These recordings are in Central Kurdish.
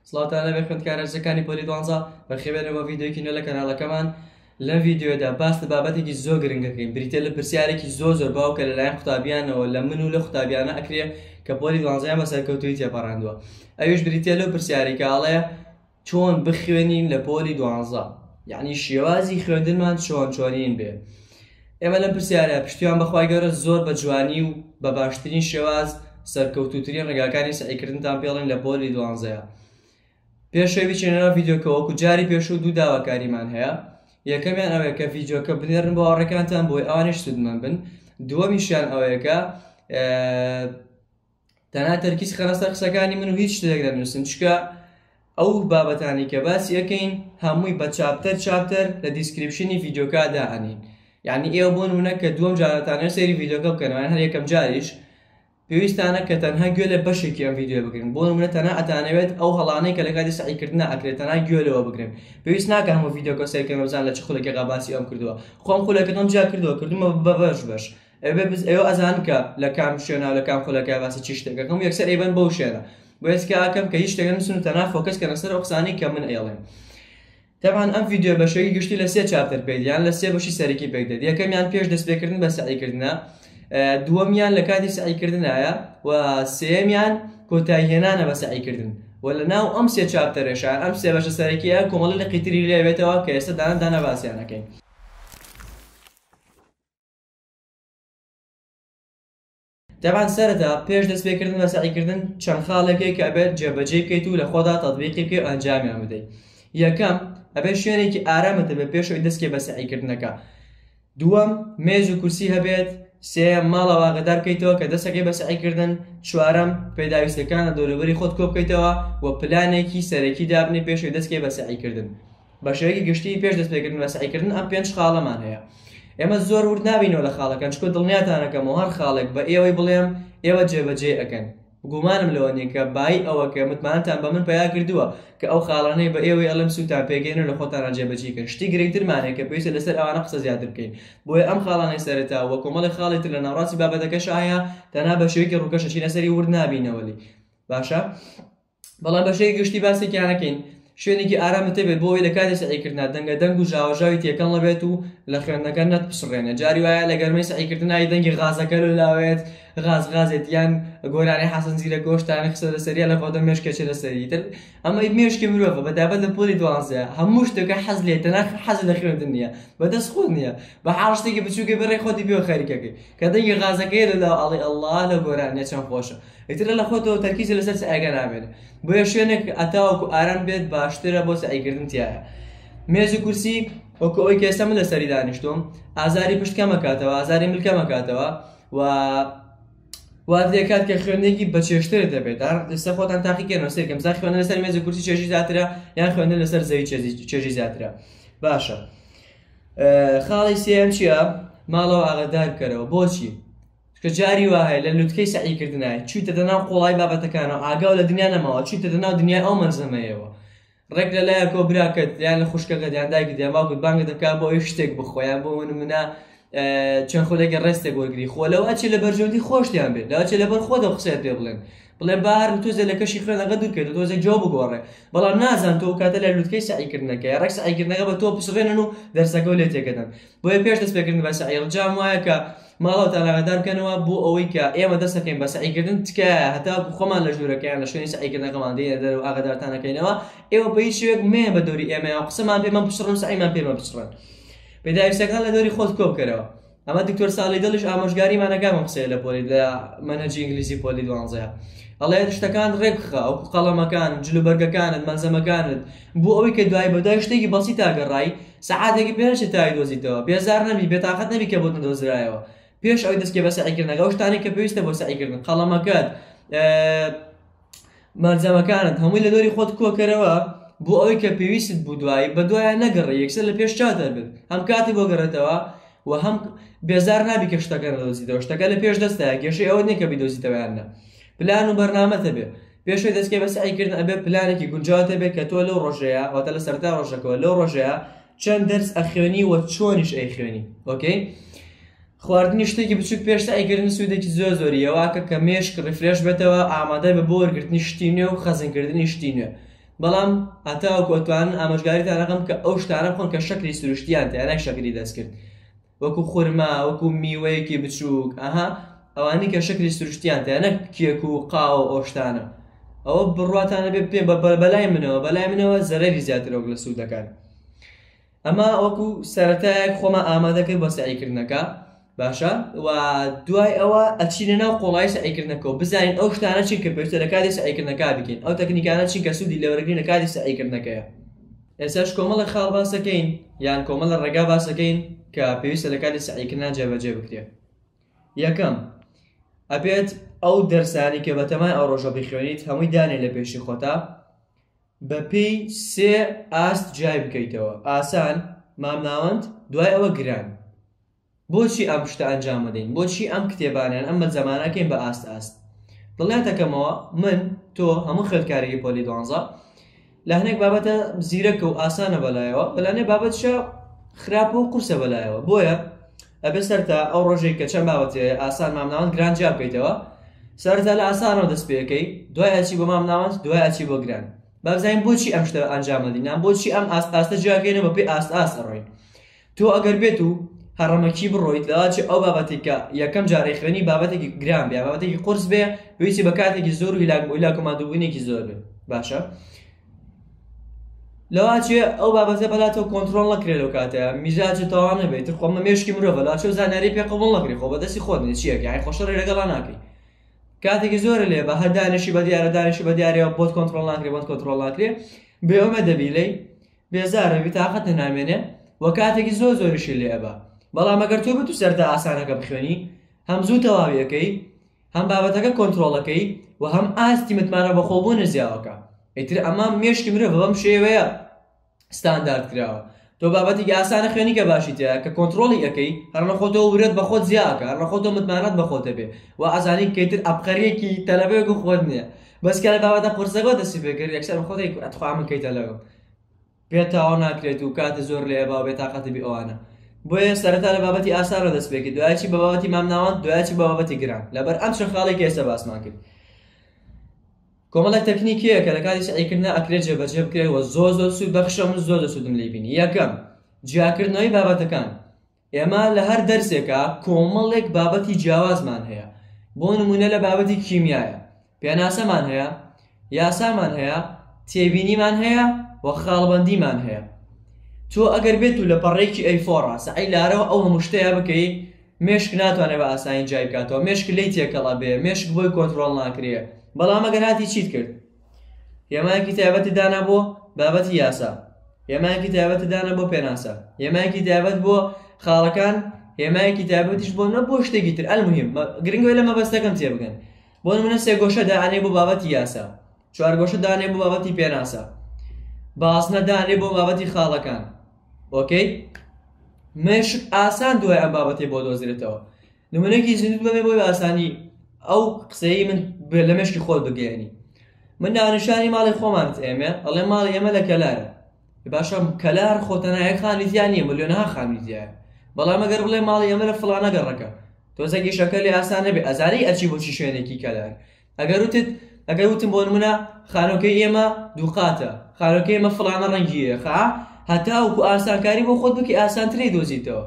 سڵاوتان لەبێ خوێندکارە ئەزیزەکانی پۆلی دوانزە بەخێوێنە بۆ ڤیدیۆیەکی نوێ لە کەناڵەکەمان لەم ڤیدیۆدا باس لە بابەتێکی زۆر گرنگەکەین بریتە لە پرسیارێکی زۆر زۆر باو کە لەلایەن قوتابیانەوە لە من و لە قوتابیانە ئەکرێ کە پۆلی دوانزەیان بە سەرکەوتووی تێپەڕاندووە ئەویش بریتە لەو پرسیارێکە ئەڵێ چۆن بخوێنین لە پۆلی دوانزە یعنی شێوازی خوێندنمان چۆن چۆنین بێ ئێمە لەم پرسیارە پشتیوان بە خوای گەورە زۆر بە جوانی و بە باشترین شێواز سەرکەوتووترین ڕێگاکانی سەعیکردنتان پێڵێن لە پۆلی دوانزەیە پێشەوی بچێنەوە ڤیدیۆکە وەکو جاری پێشوو دوو داواکاریمان هەیە یەکەمیان ئەوەیە کە ڤیدیۆکە بنێرن بۆ هاوڕێکانتان بۆی ئەوانیش سوودمەند بن دووەمیشیان ئەوەیە کە تەنها تەرکیز خەنە سەر قسەکانی من و هیچ شتێک نەنووسن چکە ئەو بابەتانی کە باسی ئەەکەین هەمووی بە چاپتەر چاپتەر لە دیسکرپشنی ڤیددیوکە داهێنین یعنی ئێوە بۆن منە کە دووەم جارەتانە سێری ڤیددیوکە بکەنەوەیان هەر یەکەم جاریش پێویستانە کە تەنها گوێ لە بەشێکی ئەم ڤیددیو بگرن بۆ منە تەنها ئەتانەوێت ئەو هەڵانەی کە لە کاتی سعیکردنا ئەکرێت تەنها گوێ لەوە بگرن پێویست ناکە هەموو ڤیددیوکە سەرکەنەوەزان لە چ خولەکە غاباسی ئەم کردووە خۆم خولەکەم جیا کردووە کردومە بە بەش بەش ئێوە بز ئێوە ئەزان کە لە کام شوێنە و لە کام خولەکە باسی چی شتێک دەکەم و یەکسەر ئەیبەن بەو شوێنە بۆ هێز کە ئاکەم کە هیچ شتێک نەنووسن و تەنها فۆکەس کەنە سەر ئەو قسانەی کە من ئێڵێم تەبان ئەم ڤیدیۆ بە شێوەی گشتی لە سێ چاپتەر پێک دێت یان لە سێ بەشی سەرەکی پێک دێت یەکەمیان پێش دەستپێکردن بە سەعیکردنە دووەمیان لە کاتی سەعیکردنایە و سێمیان کۆتاییهێنانە بە سەعیکردن و لە ناو ئەم سێ چاپتەرێشە ئەم سێ بەشە سەرەکیە کۆمەڵی لە قیتری لێوێتەوە کە ئێستا دانە دانە باسییانەکەین دەبان سەرەتا پێش دەستپێکردن بە سەعیکردن چەند خاڵێکەی کە ئەبێت جێبەجێ بکەیت و لە خۆدا تەطبیقی بکەی و ئەنجامیان بدەیت یەکەم ئەبێت شوێنێکی ئارامت هەبێت پێشەوەی دەستکێ بە سەعیکردنەکە دووەم مێز و کورسی هەبێت سێیەم ماڵە واگەدار بکەیتەوە کە دەستەکەی بە سەعیکردن چوارەم پێداویستەکانە دەوروبەری خۆت کۆ بکەیتەوە و پلانێکی سەرەکی دابنێ پێشەوەی دەستکێ بە سەعیکردن بە شێوەیەکی گشتی پێش دەستپێکردن بە سەعیکردن ئەم پێنج خاڵەمان هەیە ئێمە زۆر ورد نابینەوە لە خاڵەکان چکۆ دڵنیاتانەکەم و هەر خاڵێک بە ئێوەی بڵێم ئێوە جێبەجێ ئەەکەن گومانم لەوە نیە کە بای ئەوە کە متمانتان بە من پیا کردووە کە ئەو خاڵانەی بە ئێوەی ئەلم سووتان پێگەێنە لە خۆتانە جێبەجیکە شتی گرنگترمانێک کە پێویستە لەسەر ئەوانە قسە زیاتر بکەین بۆیە ئەم خاڵانەی سەرتا وە کۆمەڵی خاڵی تر لە ناڕاستی بابەتەکەش ئایا تەنا بە شوێکی ڕووکەشە چینە سەری ورد نابینەوەلی باشە؟ بەڵام بەشێکی گشتی باسێکیان نەکەین شوێنێکی ئارام تێبێت بۆ ئەوی لە کاتی سەعیکردنا دەنگە دەنگ و ژاوەژاوی تێکەڵ نەبێت و لە خوێندنەکە نەتپسڕێنێ جاری وایە لە گەرمەی سەعیکردنای دەنگی غازەکە لە لاوێت غاز غازێت یان گۆرانی حەسەن زیرە گۆشتانی قسە لەسەریە لە بۆدە مێشکێکی لەسەری تر ئەمە مێشکی مرۆڤە بە دابەت لە پۆلی دوانزە هەموو شتەکە حەز لێ تەناخ حەز لە خوێندن نییە بەدەست خۆ نییە بە حاڵشتێکی بچووکە بڕێ خۆتی پێ خەریکەکەی کە دەنگی غازەکەی لە لاو ئەڵی ئەلله لە گۆرانیە چەند خۆشە ئیتر لە لەخۆتەوە تەرکیزی لەسەر سەعیەکە نابێت بۆیە شوێنێک ئەتاوەکو ئارام بێت باشترە بۆ سەعیکردن تایە مێز و کورسی وەکو ئەوی کێسە من لەسەری دانیشتوم ئازاری پشتکەمەکاتەوە ئازاری ملکەمەکاتەوە و وات لێکات کە خوێندێکی بەچێشتر دەبێت ئێستا خۆتان تاقیکەنەوە سێکەم زا خوێنە لەسەر مێز و کورسی چێژی زیاترە یان خوێندە لەسەر زەوی چێژی زیاترە باشە خاڵی سێم چییە ماڵەوە ئاگدار بکەرەوە بۆچی چونکە جاری وا هەیە لە لوتکەی سەعیکردنا چوویتە دە ناو قوڵایی بابەتەکانەوە، ئاگا و لە دنیا نەماوە، چوویتە دە ناو دنیای ئەو مەلزەمەیەوە. ڕێک لە لایەکەوە براکەت، یان لە خوشکەکەت، یان دایکت، یان باوکت بانگت دەکات بۆ ئەوەی شتێک بخوا، یان بۆ نموونە چەند خولەکێ ڕێستێک وەرگری، خۆ لەوە ئەچێ لە بەرژەوەندی خۆشتیان بێت، لەوە ئەچێ لەبەر خۆت ئەو قسەیەت پێ بڵێن، بڵێن با هەر تۆزێ لە کەشی خوێنەکە دوور بکەیت و تۆزێ جۆ بگۆڕێ، بەڵام نازان تۆ ئەو کاتە لە لوتکەی سەعیکردنەکەیە، ڕێک سەعیکردنەکە بە تۆ بپچڕێنن و دەرسەکە و لێت تێکەدەن. بۆیە پێش دەستپێکردن بە سەعی، ڕجام وایە کە، ماڵەوەتان ئاگادار بکەنەوە بۆ ئەوەی کە ئێمە دەست دەکەین بە سەعیکردن تکایە هەتاکو خۆمان لە ژوورەکەیان لە شوێنی سەعیکردنەکەمان دێنە دەر و ئاگادارتانەکەینەوە ئێوە بە هیچ شوێک مەیە بە دەوری ئێمە یان قسەمان پێمان بچڕن سەعیمان پێمە بچڕن پێداویستەکان لە دەوری خۆت کۆبکەرەوە ئەمە دکتۆر ساڵی دڵش ئامۆژگاریمانەکان قسەیە لە پۆلی لە مەنەجی ئینگلیزی پۆلی دوانزەیە ئەڵێ شتەکان ڕێبخە ئەو قەڵەمەکان جلوبەرگەکانت مەلزەمەکانت بۆ ئەوەی کە دوای بەدای شتێکی بەسی تاگەڕای سەعاتێکی پێ نەچێ تاوی دۆزیتەوە، بێزار نەبی، بێتاقەت نەبی کە بۆت نەدۆزرایەوە، پێش ئەوەی دەستبکەی بە سەعیکردنەکە، ئەو شتانەی کە پێویستە بۆ سەعیکردن، قەڵەمەکەت، مەلزەمەکانت، هەمووی لە دەوری خۆت کۆکەرەوە، بۆ ئەوەی کە پێویستت بوو دوایی، بە دوایان نەگەڕێی، یەکسەر لە پێش چاوت هەبێت، هەم کاتی بۆ گەڕێتەوە و هەم بێزار نابی کە شتەکە نەدۆزیتەوە، شتەکە لە پێش دەستتایە، کێشەی ئەوەت نییە کە بیدۆزیتەوە یان نا، پلان و بەرنامەت هەبێت. پێشەوەی دەستکەی بە سەعی کردن ئەبێ پلانێکی گونجاوت هەبێت کە تۆ لەو ڕۆژەیە واتە لە سەرتا ڕۆژەکەەوە لەو ڕۆژەیە چەند دەرس ئەخوێنی وە چۆنیش ئەی خوێنی ئۆکەی خواردنی شتێکی بچوک پێش سەعیکردن سوودێکی زۆر زۆری یەواکە کە مێشک ڕفرێش بێتەوە ئامادە بە بۆ وەرگرتنی شتی نوێ و خەزنکردنی شتی نوێ بەڵام هەتاوە کۆتوانن ئاماژگاریتان ڕقم کە ئەو شتانە بخۆن کە شەکری سروشتیان تیانای شەکری دەستکرد وەکو خورما وەکو میوەیەکی بچووک ئەها ئەوانی کە شەکری سروشتیان تێ نەک کێک و قاوە ئەو شتانە ئەوە بڕواتانە بێ پێ بە بەلای منەوە بەلای منەوە زەرەری زیاترەوە لە سوودەکان ئەمە وەکو سەرەتایەک خۆمە ئامادەکرد بە سعیکردنەکە باشە و دوای ئەوە ئەچینە ناو قۆڵای سعیکردنەکەەوە بزانین ئەو شتانە چین کە پێشتە لە کاتی سعیکردنەکە بکەین ئەو تەکنیکانە چین کە سوودی لەوەرگین لە کاتی سعیکردنەکەیە ئێستاش کۆمەڵێک خاڵ باس دەکەین یان کۆمەڵە ڕێگا باس دەکەین کە پێویستە لە کاتی سەعیکردنا جێبەجێ بکرێت یەکەم ئەبێت ئەو دەرسانی کە بەتەمای ئەو ڕۆژە بخوێنیت هەمووی دانێ لە پێشی خۆتا بە پێی سێ ئاست جای بکەیتەوە ئاسان مامناوەند دوای ئەوە گران بۆچی ئەم شتە ئەنجام ئەدەین؟ بۆچی ئەم کتێبانە یان ئەم مەلزەمانە ئەکەین بە ئاست ئاست؟ دڵنیات ئەکەمەوە من، تۆ، هەموو خوێندکارێکی پۆلی دوانزە لە هەنێک بابەتە زیرەکە و ئاسانە بە لایەوە و لە هەنێک بابەتیشا خراپە و قورسە بە لایەوە بۆیە ئەبێ سەرتا ئەو ڕۆژێک کە چەند بابەت هەیە ئاسان مامناوەند گران جیا بکەیتەوە سەرتا لە ئاسانەوە دەست پێ ئەکەی دوای ئەچی بۆ مامناوەند دوای ئەچی بۆ گران با بزانین بۆچی ئەم شتە ئەنجام ئەدەین یان بۆچی ئەم ئاست ئاستە جیا ئەکەینەوە بەپێی ئاست ئاست ئەڕۆین تۆ ئەگەر بێت و هەڕەمەکی بڕۆیت لەواچێ ئەو بابەتێک کە یەکەم جارەی خوێنی بابەتێکی گران بێ بابەتێکی قرس بێ پێویستی بە کاتێکی زۆر و هیلاک بۆ هیلاک و مادووبوونێکی زۆر بێ باشە لەواچێ ئەو بابەتە بەلاتەوە کۆنتترۆل نەکرێت لەو کاتەیە میزاجە تەوانە بێت تر خۆمە مێشکی مرۆڤە لاچە و زانیاری پێ قبول نەکرێت خۆ بەدەستی خۆت نیە چیەکە یای خۆشەڕی لەگەڵا ناکەی کاتێکی زۆر لێ بە هەدانشی بە دیارە دانشی بە دیارەوە بۆت کۆنتترۆل ناکرێت بۆت کۆنتترۆل ناکرێت بێوەمە دەبی لی بێزارە بیتاقەتە نامێنێ وە کاتێکی زۆر زۆریشی لێ ئەبا بەڵام ئەگەر تۆ بتو سەرتا ئاسانەکە بخوێنی هەم زوو تەواوی ئەکەی هەم بابەتەکە کۆنترۆڵەکەی و هەم ئاستی متمانە بەخۆبوونت زیاوەکە ئیتر ئەمە مێشکی مرۆڤ بەم شێوەیە ستاندارد کراوە تۆ بابەتێکی ئاسانە خوێنی کە باشی تێ کە کۆنتترۆلی ئەەکەی هەرنە خۆتۆ ورێت بە خۆت زیاکە هەرنە خۆتۆ متمانەت بە خۆتە بێ و ئازانی کەیتر ئەپقەرێکی تەلەبێک و خۆت نییە بەس کە بابەتە قورسەکەەوە دەسی پێکرد یەکسەر بە خۆی ئەتخوا من کەیتە لەگەڵ پێ تاوا ناکرێت و کاتە زۆر لێ باو بێ تااقەتی ئەوانە بۆیە سەرەتا لە بابەتی ئاسانە دەست پێکی دوایچی بە بابەتی مامناوان دوایچی بابەتی گران لەبەر ئەم چە خاڵی کە ئێستا باسمان کرد کۆمەڵێک تەکنیکیە کە لە کاتی سعیکردنا ئەکرێت جێبەجێ بکرێت و زۆ زۆر سوود بەخشە من زۆر دەسوودم لی بینی یەکەم جیاکردنەوەی بابەتەکان ئێمە لە هەر دەرسێکا کۆمەڵێک بابەتی جیاوازمان هەیە، بۆ نموونە لە بابەتی کیمیایا پێناسەمان هەیە، یاسامان هەیە، تێبینیمان هەیە و خاڵبەندیمان هەیە. تۆ ئەگەر بێت و لە پەڕەیەکی ئەی فۆڕا سەعی لارەوە ئەو هەموو شتەیا بکەی، مێشک ناتوانێ بە ئاسانی جیای بکاتەوە، مێشک لێی تێکەڵ ئەبێ، مێشک بۆی کۆنترۆڵ ناکرێ. بەڵام ئەگەر هاتی چیت کرد؟ هێمایەکی تایبەتی دانا بۆ بابەتی یاسا هێمایەکی تایبەتی دانا بۆ پێناسە هێمایەکی تایبەت بۆ خاڵەکان هێمایەکی تایبەتیش بۆ نە بۆ شتێکی تر ئەلمهم گرنگوێ لە مەبەستەکەم تێبگەن بۆ منە سێ گۆشە دانێ بۆ بابەتی یاسا چوار گۆشە دانێ بۆ بابەتی پێناسە باسنە دانێ بۆ بابەتی خاڵەکان ئۆکەی مێشک ئاسان دوای ئەم بابەتی بۆ دۆزرێتەوە نمونەیەکی زیندووت بەمێ بۆی باسانی ئەو قسەی من لە مشکی خۆت بگەێنی من ناونشانی ماڵی خۆمان ئێمە ئەڵێ ماڵ ئێمە لە کەلارە باشم کەلار خۆتەنایە خانیزیان نیە ملیۆنها خانیزیە بەڵام ئەگەر بڵێ ماڵی ئێمە لە فلانە گەڕەکە تۆزەگیشەکە لە ئاسان نەبێ ئەزاری ئەچی بۆچی شوێنێکی کەلار ئەگەر وتت ئەگەر وتم بۆ نمونە خانۆکەی ئێمە دووقاتە خانۆکە ئێمە فڵانە ڕەنگیە خا هەتاوکو ئاسانکاری بۆ خۆت بکی ئاسانتری دۆزیتەوە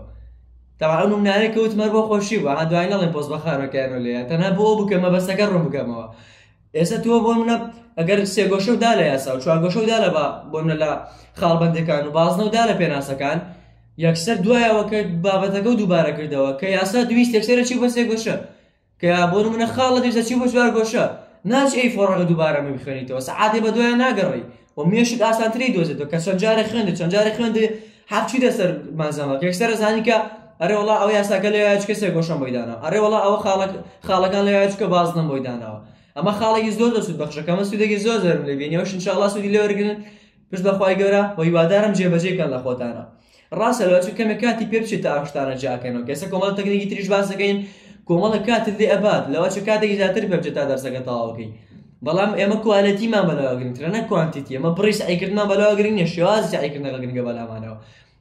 تاوان منارێ کەوت مەر بۆ خۆشی بە دوای نەڵێن پۆز بە خانۆکەیانە لێ تەنها بۆ بکەمە بەسەکە ڕوو بکەمەوە ئێستا تۆ بۆ منە ئەگەر سێگۆشە دا لە یاسا و چوارگۆشە دا لە بۆ منە لە خاڵبندەکان و بازنە و دا لە پێناسەکان یەکسەر دوایەوە کە بابەتەکە و دووبارە کردەوە کە یاسا دویست یەکسەرە چی بەسێ گۆشە کە بۆ نمونە خاڵ لەدەش دەچی بۆ چوار گۆشە ناچ ئەی فۆڕەکە دووبارە من بخوێنیتەوە سەعاتێ بە دوایان ناگەڕی و مێشک ئاسانتری دۆزێتەوە کە چەند جارە خوێندە چەند جارە خوێندێ حەفچی دەسەر مازەمە کێکسەرە زانی کە ئەرێ وڵا ئەو یاساکە لە یاچ کەسێ گۆشم بۆی داناوە ئەرێ وڵا ئەوە خاڵک خاڵەکان لە یاچکە بازنم بۆی داناوە ئەمە خاڵێکی زۆر دەسود بەخشەکەمە سوودێکی زۆر زۆرم لێ بینیەوە شنشاڵا سوودی لێوەرگن پشت بەخوای گەورە و هیوادارم جێبەجێکەن لە خۆتانە ڕاستە لەوە چ کەمێک کاتی پێ بچێت تا ئەم شتانە جیاکەنەوە کە ئێستا کۆمەڵە تەکنیکی تریش باس دەکەین کۆمەڵە کاتت لێ ئەبات لەوە چ کاتێکی زیاتر پێ بچێت تا دەرسەکە تەواوەکەی بەڵام ئێمە کوالەتیمان بەلاوە گرنگترە نە کوانتیتی ئەمە بڕی سعیکردمان بەلاوە گرنگ نیە شێواز سعیکردنەکە گرنگە بەلامانەوە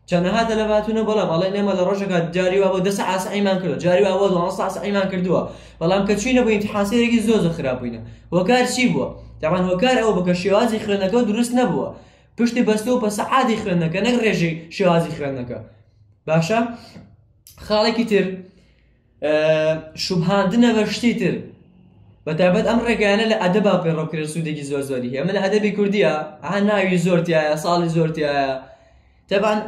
چەنەها دەلەباتونە بەڵام ئەڵێ نێمە لە ڕۆژەکە جاری وابوو دەس ئاسعیمان کردو جاری وابوو دوان ساسعیمان کردووە بەڵام کە چوینە بووین حاسەیەکی زۆزە خراپبووینە هۆکار چی بووە دەبان هۆکار ئەو بکە شێوازی خوێنەکە دروست نەبووە پشتی بەستەوە بە سەعادی خوێندنەکە نەک ڕێژەی شێوازی خوێندنەکە باشە خاڵێکی تر شوبهاندنە بە شتی تر بە تابەت ئەم ڕێگەیانە لە ئەدەبا پێڕۆکرێ سوودێکی زۆر زۆری هەیە من لە ئەدەبی کوردیە ئا ناوی زۆرتیایە ساڵی زۆرتیایە تەبان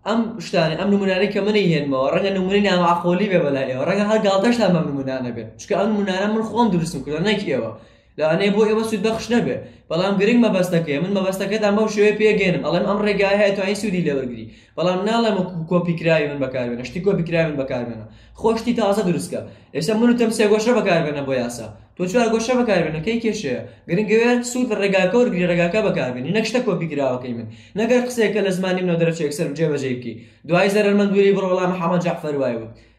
ئەم شتانە ئەم نمونانەی کە منی هێنمەوە ڕەنگە نمونی ناماقۆلی بێ بەلایەوە ڕەنگە هەر گاڵتەشتان بەم نمونانە بێت چکە ئەم نمونانە من خۆم دروستم کردە نەک ئێوە لەوانەیە بۆ ئێوە سوودبەخش نەبێت، بەڵام گرنگ مەبەستەکەیە، من مەبەستەکەتان بەم شێوەیە پێگەیەنم، ئەڵێم ئەم ڕێگایە هەیە توانیت سوودی لێوەرگری، بەڵام ناڵێم وەکو کۆپیکراوی من بەکاربێنە، شتی کۆپیکراوی من بەکاربێنە، خۆت شتی تازە دروستکە، ئێستا من وتم سێگۆشە بەکاربێنە بۆ یاسا، تۆ چوارگۆشە بەکاربێنە، کەی کێشەیە؟ گرنگ ئەوەیە سوود لە ڕێگاکە وەرگری، ڕێگاکە بەکاربێنی، نەک شتە کۆپیکراوەکەی من، نەک هەر قسەیەک کە لە زمانی منەوە دەرەچێ یەکسەر جێبەجێی بکەی، دوایی زەرەرمەند وێری بڕۆ، وەڵا محەمەد جەعفەر وای وت.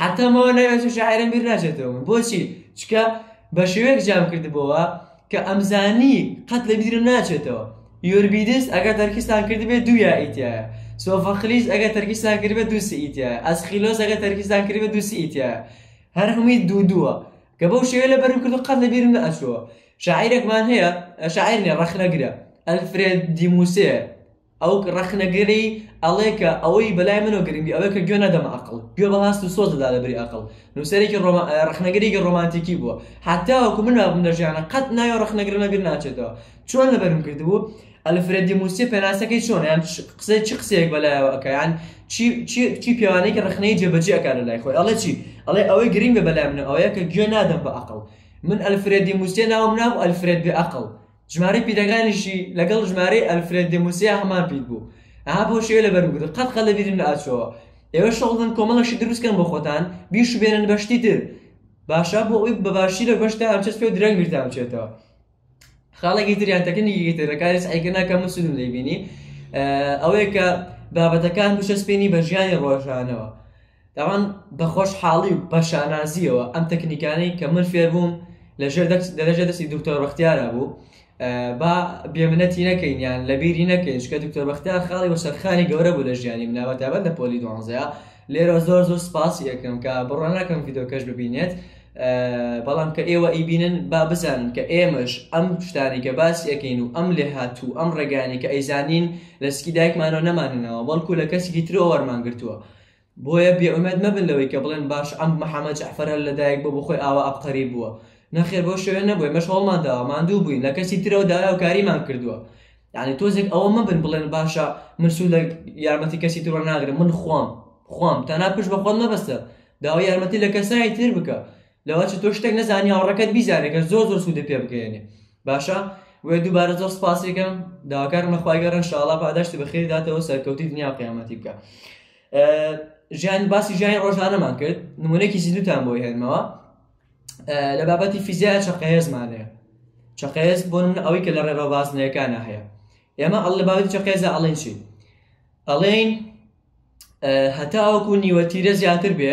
حتا ماوە ناوێت و شاعرم بیر ناچێتەوە من بۆچی چکە بە شێوەیەک جام کردبەوە کە ئەمزانی قەت لە بیرم ناچێتەوە یۆربیدس ئەگەر تەرکیستان کردبێت دوو یائیتە سۆفەخلیس ئەگەر تەرکیستان کردبێت دوو سئیتە ئەسخیلۆس ئەگەر تەرکیستان کردبێت دوو سئیتە هەر هەمووی دوو دووە کە بەو شێوە لە بەرم کرد و قەت لە بیرم نەچووە شاعیرێکمان هەیە شاعیر نیە ڕەخنەگرە ئەلفرێد دیموسێ ئەو ڕەخنەگری ئەڵێ کە ئەوەی بەلای منەوە گرنگی ئەوەیە کە گوێ نەدەمە ئەقڵ، گوێ بە هەست و سۆز دەدا لە بری ئەقڵ. نووسەرێکی ڕۆما، ڕەخنەگرێکی ڕۆمانتیکی بووە. هەتاوەکو من مابم لە ژیانا، قەت ناوی ئەو ڕەخنەگرانە بیر ناچێتەوە. چۆن لەبەرم کردبوو؟ ئەلفرێد دی موسیە پێناسەکەی چۆنە؟ یان قسە، چ قسەیەک بە لایەوە ئەکا؟ یان چی، چی، چی پێوانەیەکی ڕەخنەیی جێبەجێ ئەکا لە لای خۆی؟ ئەڵێ چی؟ ئەڵێ ئەوەی گرنگە بەلای منەوە ئەوەیە کە گوێ نادەم بە ئەقڵ. من ئەلفرێد دی موسیە ناوم نابوو ئەلفرێد بێ ئەقڵ. ژمارەی پیتەکانیشی لەگەڵ ژمارەی ئەلفرێد دێموسیا هەمان پیت بوو ئەها بۆ شێوە لەبەر بگرە قەت قە لە بیرم ناچەوە ئێوە شەغڵ بن کۆمەڵەشی دروستکەن بۆ خۆتان بیش بێنن بەشتی تر باشە بۆ ئەوی بەباشی لە بەشتا ئەمچەس پێ درەنگ بیرتان بچێتەوە خاڵێکی تریان تەکنیکی ترەکاری سعیکە ناکە من سودم دەیبینی ئەوەیە کە بابەتەکان بچەسپێنی بە ژیانی ڕۆژانەوە دەڵێن بە خۆشحاڵی و بە شانازییەوە ئەم تەکنیکانەی کە من فێر بووم لە ژێر دەرەجە دەستی دکتۆر بەختیارە بوو با بێمنەتی نەکەین یان لە بیری نەکەین چکە دکتۆر بەختیار خاڵی بە سەرخانی گەورە بوو لە ژیانی مناوە تابەت لە پۆلی دوانزەیە لێرە زۆر زۆر سپاسی یەکەم کە بڕۆ ناکەم یددیوکەش ببینێت بەڵام کە ئێوە ئیبینن با بزانن کە ئێمەش ئەم شتانی کە باس یەکەین و ئەم لێ هاتوو ئەم ڕێگانی کە ئەیزانین لە سکی دایکمانەوە نەماننەوە بەڵکو لە کەسیکی ترۆ وەرمانگرتووە بۆیە بێ ئومێد مەبن لەوەی کە بڵێن باش ئەم محەمەد جەعفەر هەر لە دایک بووە بۆ خۆی ئاوا عەبقەری بووە نەخێر بەو شێوەیە نەبووە ئێمەش هەوڵمان داوە ماندوو بووین لە کەسی ترەوە داوای هاوکاریمان کردووە یعنی تۆزێک ئەوە مەبن بڵێن باشە من سوود لە یارمەتی کەسی تر وەرناگرم من خوام خوام تەنها پشت بە خۆت مەبەستە داوای یارمەتی لە کەسانی تر بکە لەوە چ تۆ شتێک نەزانی هاوڕەکەت بیزانێ کە زۆر زۆر سوودە پێ بگەێنێ باشە وێ دووبارە زۆر سپاسێکم داواکارم لەخوای گەڕن شاڵا پاداشتی بەخێری داتەوە سەرکەوتی دنیا قیامەتی بکە ژیان باسی ژیانی ڕۆژانەمان کرد نمونێکی زیدوتان بۆی هێنمەوە لە بابەتی فیزیا چەقەهێزمانێ چەقەهێز بۆ من ئەوەی کە لە ڕێڕەوە بازنەکانە هەیە ئێمە ئەڵ لە باوی چەقێزە ئەڵێن چی ئەڵێن هەتاوەکو نیوە تیرە زیاتر بێ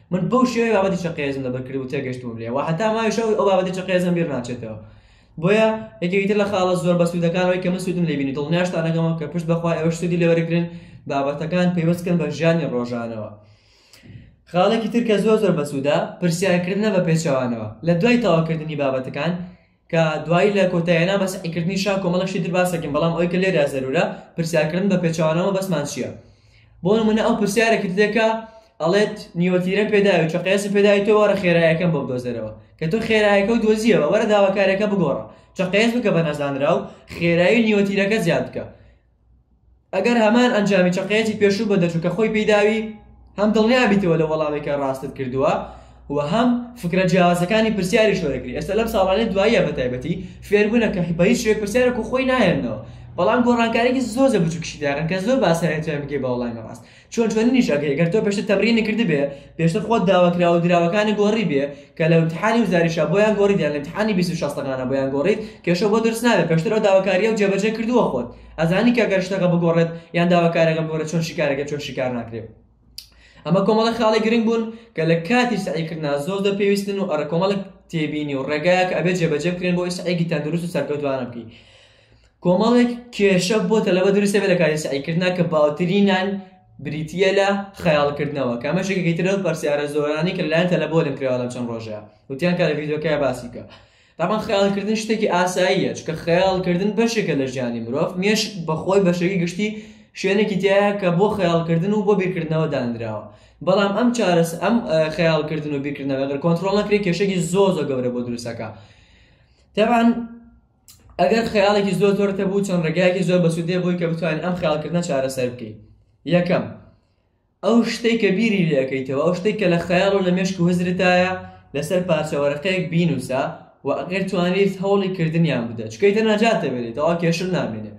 من بەو شێوەی بابەتی چەقێزم لەبەر کرد و تێگەشتوم لێ و هەتا ماوی شەو ئەو بابەتی چەقێزم بیر ناچێتەوە بۆیە یەکێکیتر لە خاڵە زۆر بە سوودەکانەوەی کە من سوودم لێ بینی دڵنیاشتانەکەمەوە کە پشت بەخوای ئەوەش سوودی لێوەرگرن بابەتەکان پەیوەستکەن بە ژیانی ڕۆژانەوە خاڵێکی تر کە زۆر زۆر بەسوودا پرسیارکردنە بە پێچەوانەوە لە دوای تەواوکردنی بابەتەکان کە دوایی لە کۆتاییانە بە سەعیکردنی شا کۆمەڵێک شتی تر باس دەکەین بەڵام ئەوەی کە لێرە زەروورە پرسیارکردن بە پێچەوانەوە بەسمان چییە بۆ نمونە ئەو پرسیارێکت دەکا ئەڵێت نیوەتیرە پێداوی چ قیاسی پێداوی تۆ وەرە خێرایەکەم بۆ بدۆزەرەوە کە تۆ خێرایەکە و دۆزیەوە وەرە داواکارەکە بگۆڕە چ قیاس بکە بە نەزانراو خێرایی نیوەتیرەکە زیاد بکە ئەگەر هەمان ئەنجامی چەقەیەکی پێشوو بەدەرچوو کە خۆی پێی داوی هەم دڵنیا بیتەوە لە وەڵامێکە ڕاستت کردووە و هەم فکرە جیاوازەکانی پرسیاری شۆرەکری ئێستا لەم ساڵانەی دواییە بە تایبەتی فێربوونە کە بە هیچ شوێ پرسیارێک و خۆی نایەنەوە بەڵام گۆڕانکاریی زۆر زە بچووکیشی داێن کە زۆر باسایەتیان بگەی بە وەڵامی ڕاست چۆن چۆنینیش ئەکەی گەر تۆ پێشتر تەمرینی کردبێ پێشتر خۆت داوا کراوە دراوەکانی گۆڕیبێ کە لە امتحانی وزاریشا بۆیان گۆڕیت یان لە امتحانی بیست و شەستەکانا بۆیان گۆڕیت کێشە بۆ دروست نابێ پێشتر ئەو داواکارییە و جێبەجێ کردووە خۆت ئەزانی کە گەر شتەکە بگۆڕێت یان داواکارەکە بگۆڕێت چۆن شیکارەکە چۆن شیکار ناکرێت ئەمە کۆمەڵە خاڵی گرنگ بوون کە لە کاتی سعیکردنا زۆر دە پێویستن و ئەرە کۆمەڵک تێبینی و ڕێگایەک ئەبێت جێبەجێ بکرێن بۆ ئیسعێکی تەندروست و سەرکەوتوانە بکەیت کۆمەڵێک کێشە بۆ تەلەبە دروست دەبێت لە کاتی سەعیکردنا کە باوترینان بریتییە لە خەیاڵکردنەوە کە ئەمەش یەکێکی ترە لەو پرسیارە زۆرانەی کە لەلایەن تەلەبەوە لێم کراوە لەم چەند ڕۆژە وتیان کە لە ڤیدیۆکەیە باسی بکە تاپان خەیاڵکردن شتێکی ئاساییە چکە خەیاڵکردن بەشێکە لە ژیانی مرۆڤ مێشک بەخۆی بەشێکی گشتی شوێنێکی تایە کە بۆ خەیاڵکردن و بۆ بیرکردنەوە دانراوە بەڵام ئەم چارەس ئەم خەیاڵکردن و بیرکردنەوە گەر کۆنتترۆڵ نەکرێت کێشێکی زۆ زۆ گەورە بۆ دروستەکە تاوان ئەگەر خەیاڵێکی زۆر زۆر تەبوو چەند ڕێگایەکی زۆر بەسوودێ بووی کە بتوانین ئەم خەیاڵکردنە چارەسەر بکەین یەکەم ئەو شتەی کە بیری لەکەیتەوە ئەو شتێک کە لە خەیاڵ و لە مێشک و هزرتایە لەسەر پارچەوەرەقەیەک بینوسە و ئەگەر توانیت هەوڵی کردنیان بدە چکەیتە ناجاتە بێنێت تەوا کێشل نامێنێ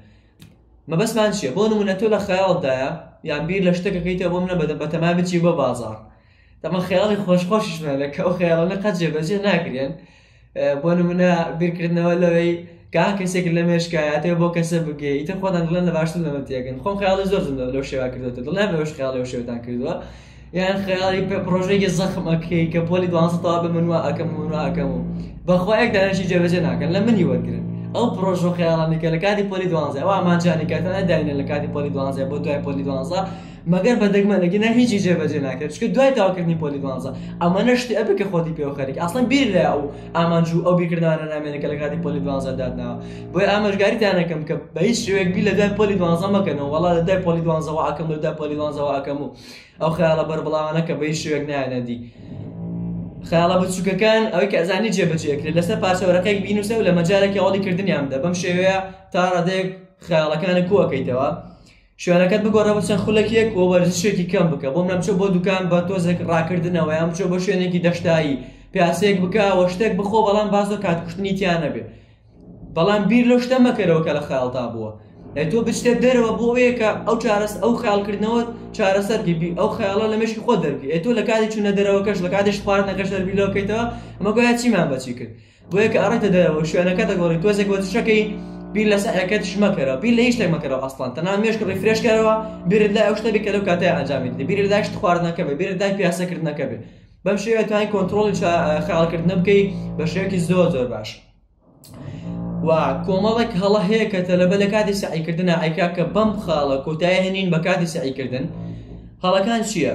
مەبەستمان چیە بۆ نمونە تۆ لە خەیاڵدایە یان بیر لە شتەکەکەیتە بۆم نە بەدە بەتەما بچی بۆ بازار دەبا خەیاڵی خۆش خۆشیشمان لە کە ئەو خەیاڵانە قەت جێبەجێ ناکرێن بۆ نمونە بیرکردنەوە لەوەی گا کەسێک لە مێشکایەتێ بۆ کەسە بگەی ئیتر خۆتان دڵێن لە باشتر لەمە تێگەن خۆم خەیاڵی زۆر زم لەو شێوا کردوتە دڵێن بەش خەیاڵی و شێوتان کردووە یان خەیاڵی پێ پرۆژێکی زەخمەکەی کە پۆلی دوانسەتەوا بە منوە ئەەکەم منوە ئەەکەم و بەخوایەک دانشی جێبەجێ ناکەن لە منی وەرگرن ئەو پرۆژ و خەیاڵانێکە لە کاتی پۆلی دوانزە ئەو ئامانجانێکەتانە داینە لە کاتی پۆلی دوانزە بۆ دوای پۆلی دوانزە مەگەر بە دەگمەن ئەگینا هیچی جێبەجێ ناکرێت چکە دوای تاوکردنی پۆلی دوانزە ئەمە نەشتی ئەبێ کە خۆتی پێوە خەریک ئەسڵەن بیر لە ئەو ئامانج و ئەو بیرکردانە نامێنێت کە لە کاتی پۆلی دوانزە دادناوە بۆی ئاماژگاریتانەکەم کە بە هیچ شوێک بی لە دوای پۆلی دوانزە مەکەنەوە وڵا لە دوای پۆلی دوانزەوە ئەکەم لە دوای پۆلی دوانزەوە ئەکەم و ئەو خیاڵە بەربڵاوانە کە بە هیچ شوێک نایەنەدی خیاڵە بچووکەکان ئەوەی کە ئەزانی جێبەجێکرێت لەسەر پارچەوەرەکەی بینوسە و لە مەجارێکی ئەوڵی کردنیان بدە بەم شێوەیە تا ڕادێک خیاڵەکانی کوەکەیتەوە شوێنەکەت بگۆڕە بچە خولەکێک و وەرزشێکی کەم بکە بۆ منە بچۆ بۆ دوکان بە تۆزێک ڕاکردنەوە یان بچۆ بۆ شوێنێکی دەشتایی پیاسێک بکە وە شتێک بخۆ بەڵام بازۆ کات کوشتنی تیا نەبێت بەڵام بیر لەو شتە مەکەرەوە کە لە خەیاڵتا بووە تۆ بچێت دەرەوە بۆ ئەوەیەکە ئەو چارەس ئەو خیالکردنەوە چارەسەر دیبی ئەو خەیاڵە لە مشی خۆ دەربی تۆ لە کاتی چوونە دەرەوەکەش لە کاتیش خواردنەکەش دەربیلەوەکەیتەوە ئەمە گویا چیمان بەچی کرد بۆیە کە ئەڕێتە دەرەوەو شوێنەکە دەگۆڕی تۆزێک وەرزشەکەی بیر لە سەعیەکەتش مەکەرەوە بیر لە هیچ شتێک مەکەرەوە ئەسڵەن تەنها مێشک ڕیفرێش کەرەوە بیرت لای ئەو شتە بێ کە لەو کاتەیە ئەنجامی دەدەی بیرت لای شت خواردنەکە بێ بیرت لای پیاسەکردنەکە بێ بەم شێوەیە توانای کۆنترۆڵی خەیاڵکردنە بکەی بە شێوەیەکی زۆر زۆر باش و کۆمەڵێک هەڵە هەیە کە تەلەبە لە کاتی سەعیکردنە ئایکا کە بەم خاڵە کۆتایە هێنین بە کاتی سەعیکردن هەڵەکان چییە؟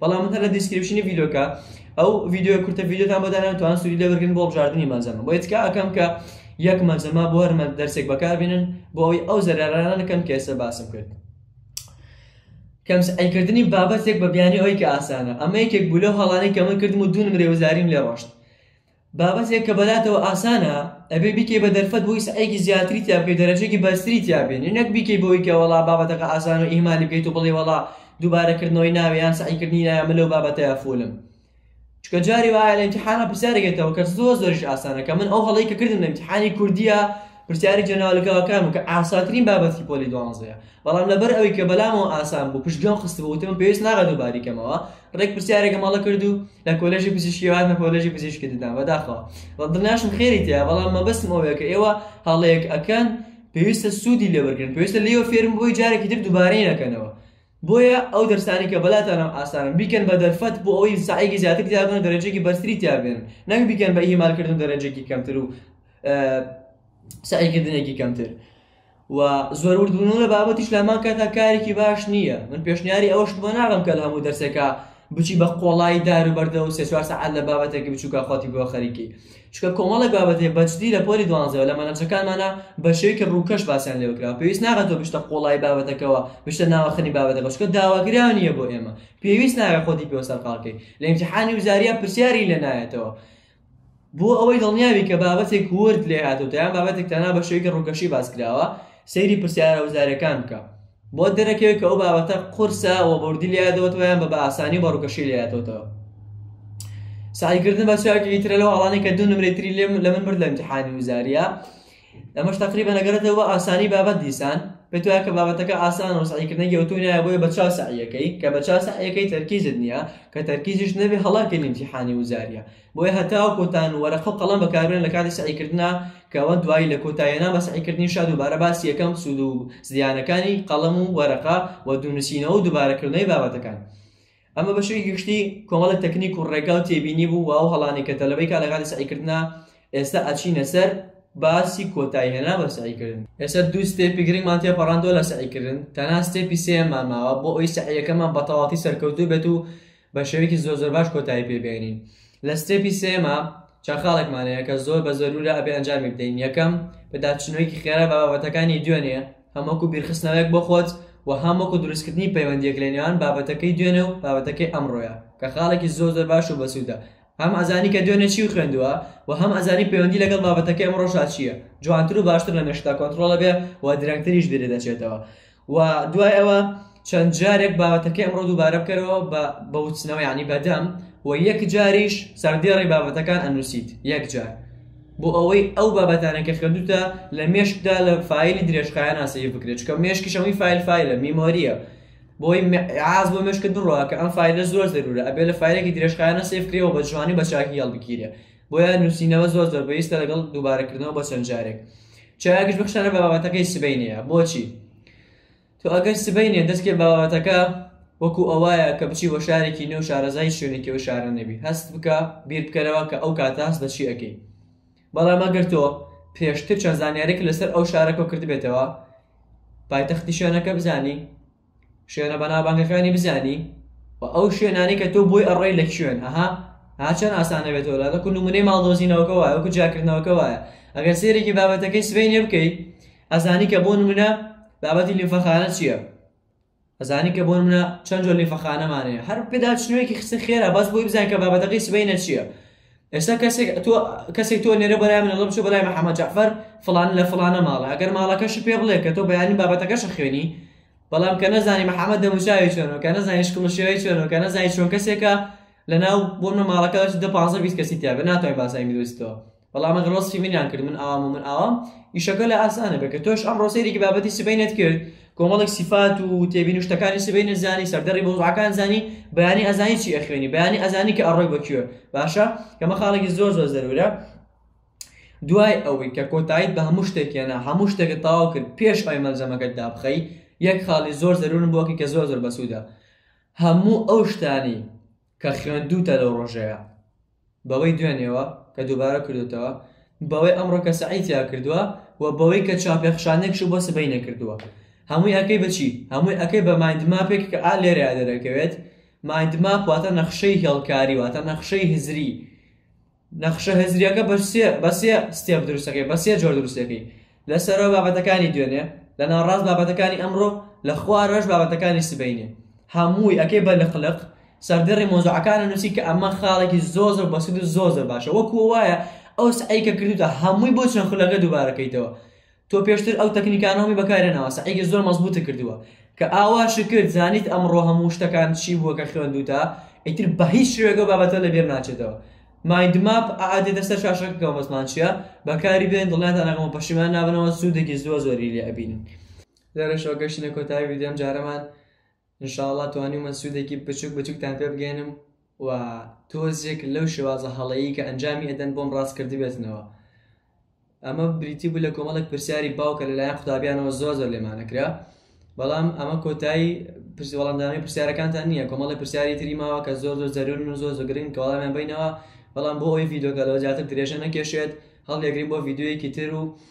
بەڵام هەر لە دیسکریپشنی ڤیدۆکە ئەو ڤیدیۆ کورتە ڤیدیۆتان بۆ دانان توان سوودی لێ وەرگن بۆ بژاردننی مەزەمە بۆ تکا ئەەکەم کە یەک مەزەما بۆ هەرمە دەرسێک بەکاربێنن بۆ ئەوی ئەو زەرارانە نەکەن کە ئێستا باسم کرد کەمس ئەیکردنی بابەتێک بە بیانی ئەوی کە ئاسانە ئەمە یەکێک بوو لەو هەڵانەی کە من کردم و دوو نمرەی وزاریم لێ ڕۆشت بابەتێک کە بەلاتەوە ئاسانە ئەبێ بیکەی بە دەرفەت بۆی سەعیەکی زیاتری تیا بکەی دەرەجەکی بەرزتری تیا بێنی نەک بیکەی بۆی کە وەڵا بابەتەکە ئاسانە و ئیهمالی بکەیت و بڵێی وەڵا دووبارە کردنەوەی ناوێ یان سەعیکردنی نایە من لەو بابەتەیا فوولم چونکە جاری وایە لە ئیمتیحانا پرسیارێک یەتەوە کە زۆر زۆریش ئاسانە کە من ئەو هەڵەی کە کردم لە ئیمتیحانی کوردییە پرسیاری جەناولکاوەکان بوو کە ئاسانترین بابەتی پۆلی دوانزەیە بەڵام لەبەر ئەوەی کە بەلامەوە ئاسان بوو پشت گوێم خستبوو وتم پێویست ناکات دووباری کەمەوە ڕێک پرسیارێکم هەڵە کرد و لە کۆلێژی پزیشکی هاتمە کۆلێژی پزیشکی ددان بەداخەوە بە دڵنیاشم خێری تێە بەڵام مەبەستم ئەوەیە کە ئێوە هەڵەیەک ئەکەن پێویستە سوودی لێوەرگن پێویستە لێوە فێرم بۆی جارێکی تر دووبارەی نەکەنەوە بۆیە ئەو دەرسانی کە بەلاتانم ئاسانم بیکەن بە دەرفەت بۆ ئەوی ساعێکی زیاتر تیابن و دەرەجێکی بەرتری تیابێن نەک بیکەن بە ئیمالکردن دەرەجێکی کەمتر و سعیکردنێکی کەمتر و زۆر وردبوونەوە لە بابەتیش لامان کە تا کارێکی باش نییە من پێشنیاری ئەوەش بۆ ناڕم کە لە هەموو دەرسێکە بچی بە قۆڵایی دار و بەردە و سێ چوار سەعات لە بابەتێکی بچووکە خۆتی بۆ خەریکی چونکە کۆمەڵێک بابەتێ بەجدی لە پۆلی دوانزەوە لە مەنهەجەکانمانە بە شێوەیەکی ڕووکەش باسیان لێوە کرا پێویست ناکات تۆ بچتە قۆڵایی بابەتەکەوە بچتە ناوەخنی بابەتەکە چونکە داواکراو نییە بۆ ئێمە پێویست ناکات خۆتی پێوە سەرقاڵ کەی لە ئیمتیحانی وزارییە پرسیاری لێ نایەتەوە بۆ ئەوەی دڵنیا بی کە بابەتێک ورد لێ هاتۆتە یان بابەتێک تەنها بە شێوەیەکی ڕووکەشی باس کراوە، سەیری پرسیارە وزارەکان بکە. بۆت دەرەکەوێت کە ئەو بابەتە قورسە و بە وردی لێ هاتۆتەوە یان بە بە ئاسانی و بە ڕووکەشی لێ هاتۆتەوە. سەعی کردن بە چاوێکی ترە لەو هەڵانەی کە دوو نمرەی تری لە من برد لە ئیمتیحانی وزارییە. ئەمەش تەقریبەن ئەگەرێتەوە بۆ ئاسانی بابەت دیسان پێت وایە کە بابەتەکە ئاسانە و سەعیکردنە گەوتوو نایە بۆیە بە چاو سەعیەکەی کە بە چاو سەعیەکەی تەرکیزت نییە کە تەرکیزیش نەبێ هەڵاکەی ئیمتیحانی وزارییە بۆیە هەتاوەکو تان وەرەقە و قەڵەم بەکاربێن لە کاتی سەعیکردنا کە ئەوە دوایی لە کۆتاییەنا بە سەعیکردنیشا دووبارە باسی یەکەم سوود و زیانەکانی قەڵەم و وەرەقە و دوونووسینەوە و دووبارەکردنەوەی بابەتەکان ئەمە بەشێکی گشتی کۆمەڵە تەکنیک و ڕێگا و تێبینی بوو و ئەو هەڵانەی کە تەلەبەی کا لەکاتی سەعیکردنا ئێستا ئەچینە سەر باسی کۆتایی هێنان بە سەعیکردن ئێستا دوو ستێپی گرنگمان تێپەڕاندووە لە سەعیکردن تەنها ستێپی سێیەممان ماوە بۆ ئەوی سەعیەکەمان بە تەواوەتی سەرکەوتوو بێت و بە شێوەیەکی زۆر زۆر باش کۆتایی پێ بێنین لە ستێپی سێیەما چەند خاڵێکمان هەیە کە زۆر بە زەروورە ئەبێ ئەنجامی بدەین یەکەم پێداچوونەوەیەکی خێرا بە بابەتەکانی دوێنێ هەم وەکو بیرخستنەوەیەک بۆ خۆت و هەم وەکو دروستکردنی پەیوەندییەک لە نێوان بابەتەکەی دوێنێ و بابەتەکەی ئەمڕۆیە کە خاڵێکی زۆر زۆر باش و بەسوودە هەم ئەزانی کە دوێنێ چی خوێندووە و هەم ئەزانی پەیوەندی لەگەڵ بابەتەکەی ئەمڕۆشا چییە جوانتر و باشتر لە مێشکتا کۆنتڕۆڵە بێ و درەنگتریش بیرت دەچێتەوە و دوای ئەوە چەند جارێک بابەتەکەی ئەمڕۆ دووبارە بکەرەوە بە بەوتنەوە یعنی بەدەم و یەک جاریش سەردێڕی بابەتەکان ئەنووسیت یەک جار بۆ ئەوەی ئەو بابەتانەی کە خوێندووتە لە مێشکدا لە فایلی درێژخایەنە سەیڤ بکرێت چونکە مێشکیش هەمووی فایل فایلە میمۆرییە بۆی عاز بۆ مێشکت بڕوا کە ئەم فایلە زۆر زەرورە ئەبێ لە فایلێکی درێژخایەنە سەیڤ کرێەوە بە جوانی بە چاکی هەڵبگیرێ بۆیە نووسینەوە زۆر زۆر بەویستە لەگەڵ دووبارەکردنەوە بۆ چەند جارێک چاکیش بخشانە بە بابەتەکەی سبەینێیە بۆچی تۆ ئەگەر سبەینێ دەست پێ بابەتەکە وەکو ئەوایە کە بچی بۆ شارێکی نوێ و شارەزا هیچ شوێنێکی ئەو شارە نەبی هەست بکە بیر بکەرەوە کە ئەو کاتە هەست بە چی ئەکەی بەڵام ئەگەر تۆ پێشتر چەند زانیارێک لەسەر ئەو شارە کۆ کردبێتەوە پایتەختی شوێنەکە بزانی شوێنە بەنابانگەکانی بزانی و ئەو شوێنانی کە تۆ بۆی ئەڕێی لە شوێن ئەها هاچەند ئاسانە بێتەوە لە وەکو نمونەی ماڵدۆزینەوەکە وایە وەکو جیاکردنەوەکە وایە ئەگەر سێرێکی بابەتەکەی سبەینێ بکەیت ئەزانی کە بۆ نمونە بابەتی لیمفەخانە چییە ئەزانی کە بۆ نمونە چەند جۆر لیمفەخانەمان هەیە هەر پێدا چنوێکی خستە خێرا بەس بۆی بزان کە بابەتەکەی سبەینە چییە ئێستا کەسێک تۆ کەسێک تۆ نێرە بەلای منەڵە بچۆ بەلای محەممەد جعفەر فلان لە فلانە ماڵە ئەگەر ماڵەکەش پێ بڵێ کە تۆ بەیانی بابەتەکەش خوێنی بەڵام کە نەزانانی محەممەد دەموچاوی چۆنەوە کە نەزانانی شکڵشێوەی چۆنەوە کە نەزانانی چۆن کەسێکە لەناو بۆ منە ماڵەکەش دە پازە بیست کەسی تیاێ ناتوانین باسای میدۆستەوە وەڵا من ڕۆستی منیان کرد من ئاوام و من ئاوام ئیشەکە لە ئاسانە بێ کە تۆش ئەم ڕۆسێریکی بابەتی سبینت کرد کۆمەڵێک سیفات و تێبین شتەکانی سبینت زانی سەردەڕی بۆزعەکان زانی بەیانی ئەزانی چی ئەخوێنی بەیانی ئەزانی کە ئەڕۆی بەکوێ باشە کەمە خاڵێکی زۆر زۆر زەرورە دوای ئەوەی کە کۆتاییت بە هەموو شتێکێنە هەموو شتێکە تاوا کرد پێش ئەوی مەلزەمەکەت دابخەی یەک خاڵی زۆر زەرورن بۆکی کە زۆر زۆر بەسوودە هەموو ئەو شتانی کە خوێندووتە لەو ڕۆژەیا بەوەی دوێنێوە کە دووبارە کردۆتەوە بەوەی ئەمڕۆ کە سەعی تیا کردووە و بەوەی کە چاپێخشانێکش بۆ سبەی نەکردووە هەمووی ئەکەی بە چی؟ هەمووی ئەکەی بە مایندماپێک کە ئا لێرەیا دەرەکەوێت مایندماپ واتە نەخشەی هێڵکاری واتە نەخشەی هزری نەخشە هزرییەکە بە سێ بە سێ ستێپ دروستەکەی بە سێ جۆر دروستەکەی لە سەرەوە بابەتەکانی دوێنێ لە ناوڕاست بابەتەکانی ئەمڕۆ لە خوارەوەش بابەتەکانی سبەینێ هەمووی ئەکەی بە لق لق سەردێڕی مۆزوعەکانە نووسی کە ئەمە خاڵێکی زۆر زۆر بەسود و زۆر زۆر باشە وەکو وایە ئەو سەعی کە کردوتە هەمووی بۆ چەند خولەکە دووبارەکەیتەوە تۆ پێشتر ئەو تەکنیکانەومی بەکارهێناوە سەعیگە زۆر مەزبوتە کردوە کە ئاوا شکرد زانیت ئەمڕۆ هەموو شتەکان چی بووە کە خوێندوتە ئیتر بە هیچ شێوەیەکەو بابەتە لەبیر ناچێتەوە مایند ماپ ئەئا دێتە سەر شاشەکەکەوە بەسمان چیە بەکاری بێن دڵنیاتان ئەکەم و پەشیمان نابنەوە سودێکی زۆر زۆری لێ ئەبینن لێرەشەوە گەشتینە کۆتایی ڤیدیۆ ئەم جارەمان ان شاء اللە توانیومە سوودێکی بچوک بچوکتان پێ بگەیەنم و تۆزێک لەو شێوازە هەڵەیی کە ئەنجامی ئەدەن بۆم ڕاست کردبێتنەوە ئەمە بریتی بوو لە کۆمەڵێک پرسیاری باو کە لەلایەن قوتابیانەوە زۆر زۆر لێمانەکرا بەڵام ئەمە کۆتایی پرسی وەڵامدانی پرسیارەکانتان نییە کۆمەڵی پرسیاری تری ماوە کە زۆر زۆر زەرورن و زۆر زۆگرین کە وەڵامیان بینەوە بەڵام بۆ ئەوی ڤیدۆکە لەوە زیاتر درێژە نەکێشێت هەڵدێگرین بۆ ڤیددیوەیەکی تر و